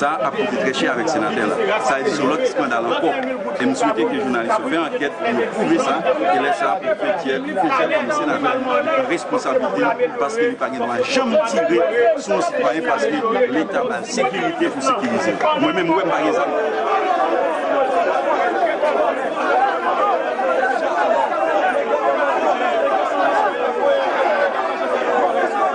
Sa ap koute trè chè avèk senatè la. Sa e sou lòt eskandal ankò. E m swete ke jounalis yo fè ankèt pou yo pwouve sa, e lè sa pou Fethière, tout Fethière kòm senatè, li pran responsabilite l paske li pa gen dwa janm tire sou yon sitwayen paske leta ba l sekirite pou sekirize l. Mwen menm m wè m pa gen zam.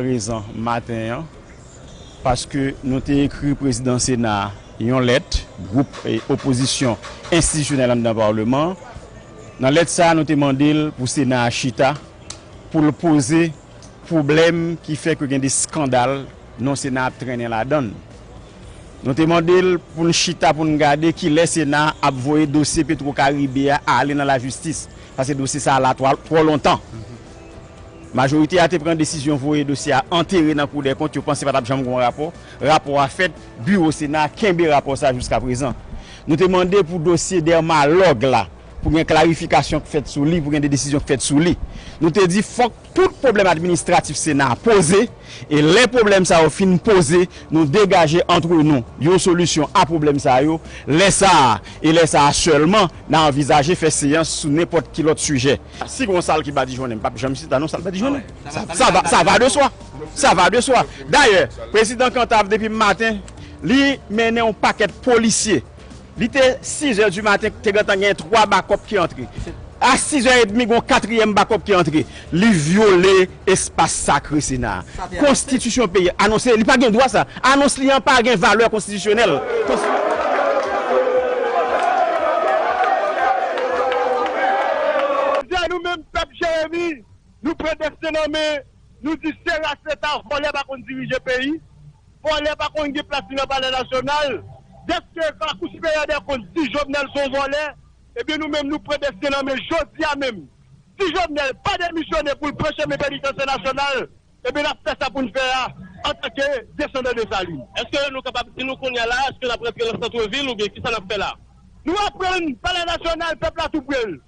prezan maten an paske nou te ekri prezidan sena a yon lèt gwoup opozisyon enstitisyonèl anndan parleman an nan lèt sa a nou te mande l pou sena a chita pou l poze pwoblèm ki fè ke gen de skandal non sena a ap trennen ladan l. Nou te mande l pou n chita pou n gade kilè Sena a ap voye dosye Petro Caribe a ale nan lajistis, paske dosye sa a la twò lontan. Majorite a te pran desizyon voye dosye a antere nan Kou dèkont, yo panse pa t ap janm gen yon rapò. Rapò a fèt, biwo Sena a kenbe rapò sa a jiskaprezan. Nou te mande pou dosye Dermalog la, pou gen klarifikasyon k fèt sou li, pou gen de desizyon k fèt sou li. Nou te di fòk. tout pwoblèm administratif Sena a poze, e lè pwoblèm sa yo fin poze, nou degaje antre nou yon solisyon a pwoblèm sa yo, lè sa a, e lè sa a sèlman, nan anvizaje fè seyans sou nenpòt ki lòt sijè. Si gon sal ki badijonnen, m pap janm chita non sal badijonnen. Sa va de swa. Sa va de swa. Dayè, Prezidan Cantave depi maten, li mennen yon pakèt polisye Li te sizè di maten, te gentan gen twa bakòp ki antre. A sizè edmi gen yon katriyèm bakòp ki antre. Li vyole espas sakre Sena a. Konstitisyon peyi a anonse li pa gen dwa sa. Anons li an pa gen valè konstitisyonèl. Jodi a nou menm pèp Jeremi, nou pran desten an men, nou di se ras leta vòlè pa konn dirije peyi. Vòlè pa konn gen plas li nan palè nasyonal. Dèske la kou siperyè dè kont di Jovenel son vòlè, ebyen nou menm nou pran desten nan men jodia menm. Si Jovenel pa demisyone poul pran chemen penitansye nasyonal, ebyen nap fè sa poun fè a antanke desandan Desalin. Eske nou kapab di nou kounya la eske nap rantre nan santre vil oubyen kisa nap fè la? Nou aprann palè nasyonal pèp la tou prel.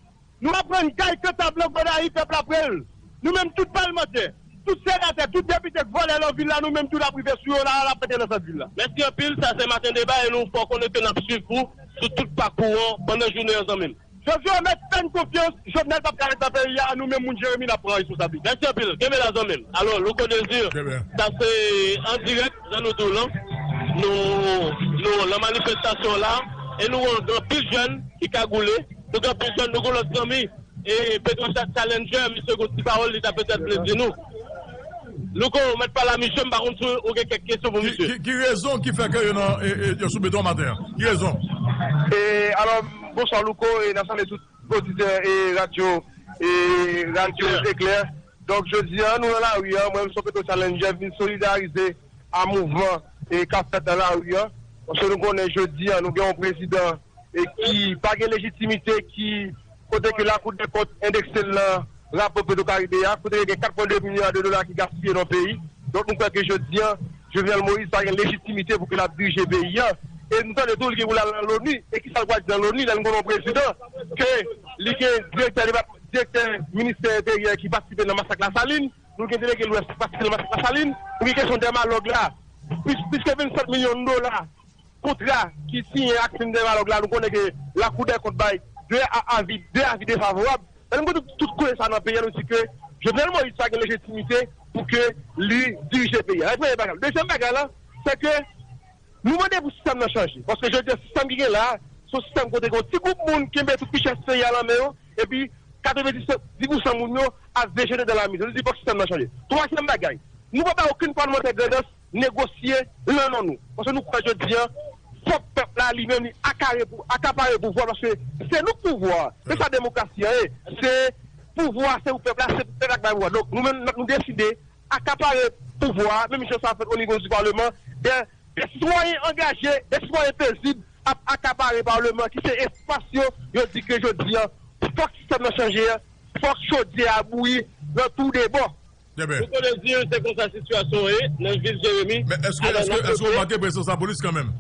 Nou aprann kay kantab lan Gonayiv pèp la prel nou menm tout palmantè tout senatè tout depite k vòlè lan vil la nou menm tou lap rive sou yo la lap antre nan sant vil la. Mèsi anpil, sa se Maten Deba e nou fè w konnen ke n ap swiv ou sou tout pakou an pandan jounen an zanmi m. Jovyo mèt fè n konfyans, Jovenel pap ka ret nan peyi a, nou menm moun Jeremi n ap pran responsablite. Mèsi anpil, kenbe la zanmi m. Alo Louko Desir, sa se an dirèk. Jan nou di w lan, nou lan manifestasyon la e nou wè gen anpil jèn ki kagoule, nou gen anpil jèn, nou gen lòt zanmi e Petrochat Challenger misye gen yon ti pawòl li ta petèt vle di nou. Louko, mèt pale a misye, m pa konn si ou gen kèk kesyon pou misye. Ki rezon ki fè ke yo nan, yo sou beton maten an? Ki rezon? E alò, bonswa Louko e n ap salye tout oditè e radyo, e radyo Eclair. Donk jodi a nou nan lari a, mwen menm Son Petro Challenger vin solidarize a mouvman e kap fèt nan lari a, paske nou konnen jodi a nou gen yon prezidan e ki pa gen lejitimite ki kote ke lakou dè kont endekse l nan rapò petro karibe a, kote ke gen 4 pwen 2 milya de dola ki gaspiye nan peyi, donk nou kwè ke jodi a Jovenel Moïse pa gen lejitimite pou ke lap dirije peyi a, e nou tande tou li gen pou lal nan Loni, e kisa l pwal di nan Loni lè nou konnen yon prezidan ke li gen direktè depatman. Direktè ministè enteryè ki patisipe nan masak Lasalin, nou gen delege lwès ki patisipe nan masak Lasalin, nou gen kesyon dèmalòg la, plis ke 27 milyon dola kontra ki siyen ak fim dèmalòg la, nou konnen ke lakou dèkont bay 2 avi, 2 avi defavorab. Lè nou gade tout koze sa nan peyi a nou di ke Jovenel Moïse pa gen lejitimite pou ke li dirije peyi a. Sa se premye bagay la. Dezyèm bagay la, se ke. Nou mande pou sistèm nan chanje, paske jodi a sistèm ki gen la a, se yon sistèm kote gen yon ti gwoup moun ki kenbe tout richès peyi a nan men yo, epi 90 pousan moun yo ap vejete dan la mizè. Nou di fòk sistèm nan chanje. Twazyèm bagay, nou pa bay okenn palmantè grandans negosye lan non nou, paske nou kwè jodi a fòk pèp la li menm li akare pou akapare pouvwa paske se nou k pouvwa a, se sa demokrasi an ye, se pouvwa se pou pèp la, se pou pèp la k bay pouvwa. Donk nou menm nou deside akapare pouvwa a, menm jan sa fèt onivo di paleman, dè sitwayen angaje, dè sitwayen pezib ap akapare paleman ki se espas yo, yo di ke jodi a fòk sistèm nan chanje, fòk chodyè a bouyi nan tou de bò. Nou konnen di yo se konsa sitiyasyon an ye nan vil Jeremi. Men eske, eske, eske ou remake prezans lapolis kanmenm?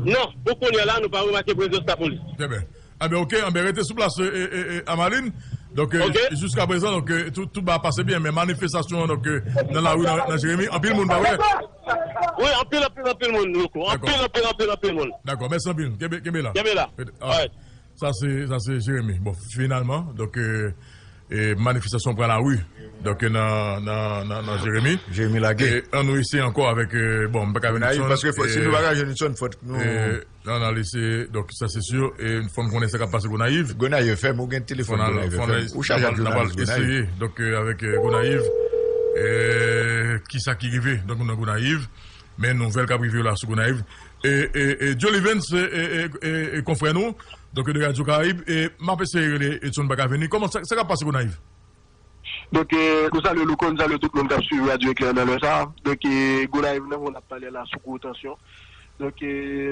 Non, pou kounya la nou pa remake prezans lapolis. Trè byen. Anben ok anben rete sou plas Amaline donk jiska prezan donk tout ba pase byen men manifestasyon donk nan lari nan jeremi anpil moun pa wè wi anpil anpil anpil moun louco anpil anpil anpil anpil moun dakò mèsi anpil kenbe la kenbe la alright sa se sa se jeremi bon finalman donk manifestasyon pran lari donk nan nan nan nan jeremi jeremi lage an nou eseye ankò avèk bon m paka jwenn Nitson paske fò si nou paka jwenn Nitson fòk nou. Nan nal eseye donk sa se sur e fòn konnen sa kap pase Gonayiv. Gonayiv FM ou gen telefòn Gonayiv FM ou chaje ak jounalis Gonayiv. Nal eseye donk avèk Gonayiv kisa ki rive donk nou nan Gonayiv men nouvèl kap rive yo la sou Gonayiv e Jolly Vens e konfrè nou donk de Radio Caraïbe e map eseye rele Edson Baka vini kòman sa kap pase Gonayiv. Donk nou salye Louko, nou salye tout moun kap swiv Radyo Eklè nan lè sa. Donk Gonayiv nan moun ap pale la sou gwo tansyon. Donk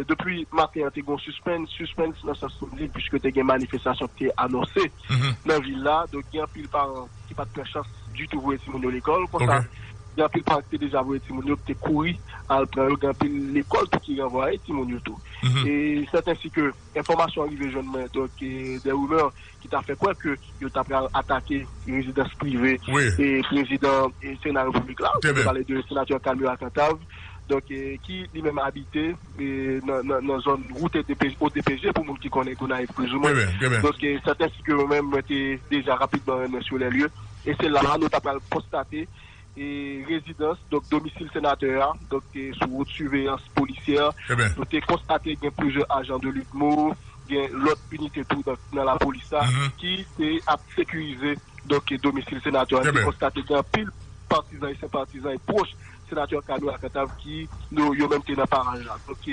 depi maten an te gen yon sispens, sispens nan sans simblik puiske te gen manifestasyon ki te anonse nan vil la. Donk gen anpil paran ki pat pran chans ditou voye timoun yo lekòl. Konsa gen anpil paran ki te deja voye timoun yo ki te kouri al pran yo. Gen anpil lekòl tou ki ranvwaye timoun yo tou. E sèt ensi ke enfòmasyon rive jwenn mwen donk de rimè. ki ta fè kwè ke yo ta pral atake rezidans prive prezidan sena repiblik la, mwen pale de senatè Carmur Alcantave, donk ki li menm abite nan zòn wout ODPJ pou moun ki konnen Gonayiv plizoumwen, donk sèten si ke mwen menm mwen te deja rapidman rennen sou lè lye, e se la a nou ta pral konstate. rezidans, donk domisil senatè a, donk te sou wout siveyans polisyè. Nou te konstate gen plizyè ajan de Lidmo, gen lòt inite tou nan lapolis la ki te ap sekirize donk domisil senatè a. Nou te konstate gen anpil patizan e senpatizan e pwòch senatè Kano a Kantav ki yo menm te nan paraj la. Donk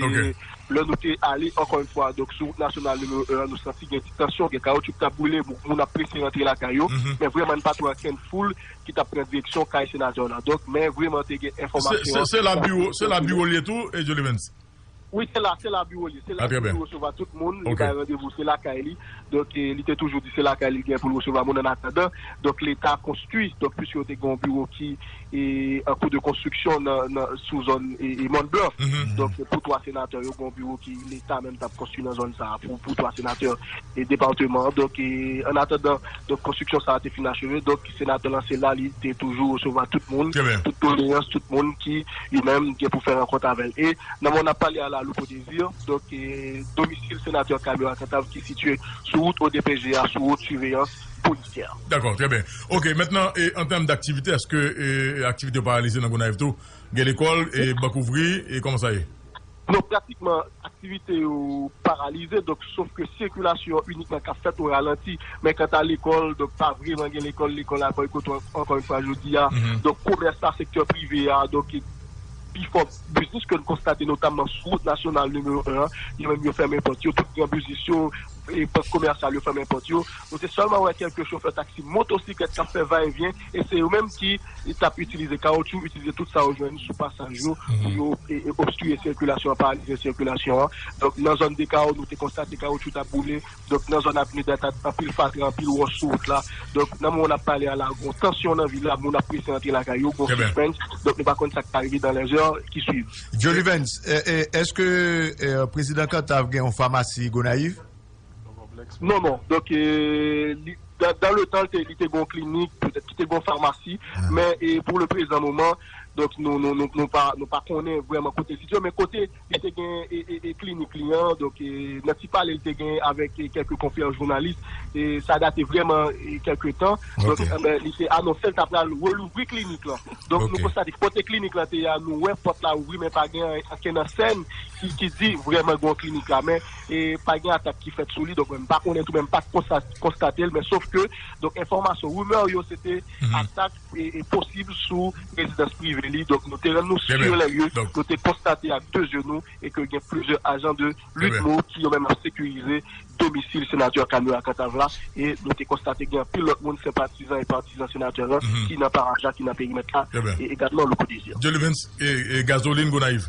lè nou te ale ankò yon fwa donk sou wout nasyonal nimewo 1 an, nou santi gen ti tansyon, gen kawotchou ki t ap boule, moun ap prese rantre lakay yo, men vrèman n pa t wè ankenn foul. ki tap pran direksyon kay senatè w la donk men vreman te gen enfòmasyon an. Se la biwo se la biwo li ye tou Jolimens? Wi se la se la biwo li ye se la li toujou resevwa tout moun li bay randevou se lakay li donk li te toujou di se lakay li gen pou l resevwa moun an atandan donk leta konstwi donk pwiske yo te gen yon biwo ki an kou de konstriksyon nan sou zòn mòn blan donk pou 3 senatè yo gen yon biwo ki leta menm tap konstwi nan zòn sa pou 3 senatè depateman an donk an atandan donk konstriksyon sa te fin acheve donk. Senatè lan se la li te toujou resevwa tout moun, tout doleyans tout moun ki yo menm gen pou fè rankont avè l. E nan moman n ap pale a la Louko Desir, donk domisil Senatè Camero a Cantave ki sitye sou wout odpj a sou wout siveyans polisyè. Dakò, trè byen. Ok, mentnan an tèm daktivite eske aktivite yo paralize nan Gonayiv tou? Gen lekòl, bank ouvri, kòman sa ye? Non, pratikman aktivite yo paralize, donk sof ke sikilasyon inikman kap fèt o ralanti, men kanta lekòl, donk pa vreman gen lekòl, lekòl a bòykote ankò yon fwa jodi a, donk komès la, sektè prive a, donk pifò biznis ke nou konstate notamman sou wout nasyonal nimewo 1 an, yo menm yo fèmen pòt yo, tout gran biznis yo, bank komèsyal yo fèmen pòt yo, nou te sèlman wè kèlke chofè taksi, motosiklèt kap fè va e vyen, e se yo menm ki t ap itilize kawotchou, itilize tout sa yo jwenn sou pasaj yo pou yo obstwiye sikilasyon an, paralize sikilasyon an. Donk, nan zòn Dekawo, nou te konstate kawotchou t ap boule. Donk, nan zòn Avni Data, anpil fatra, anpil wòch sou wout la. Donk, nan moman n ap pale a la, gon tansyon nan vil la, moun ap prese antre lakay yo, gon sispens. Donk, nou pa konn sa k ka rive dan lèzè ki swiv. Jolivens, èske Prezidan Kantav gen yon famasi Gonayiv? Non, non. Donk, dan le tan li te gen yon klinik, petèt ki te gen yon famasi, men pou le prezan moman, donk nou pa konnen vrèman kote li sitye, men kote li te gen klinik li an, donk nan ti pale li te gen avèk kèlke konfrè jounalis, sa date vrèman kèlke tan, donk li te anonse li ta pral relouvri klinik lan. Donk nou konstate kote klinik lan te ye a, nou wè pòt la ouvri men pa gen ankenn ansèn ki di vrèman gen yon klinik la. e pa gen atak ki fèt sou li, donk mwen m pa konnen tou men m pa t konstate l men sof ke donk enfòmasyon, rumeur yo se te atak e posib sou rezidans prive li, donk nou te rann nou sur les lieux, nou te konstate ak 2 zye nou e ke gen plizyè ajan de Lutmo ki yo menm ap sekirize domisil senatè Camille a Cantave la e nou te konstate gen anpil lòt moun senpatizan e patizan senatè lan ki nan paraj la, ki nan perimèt la e egalman Louko Desir. Dyelivens Gazolin Gonayiv.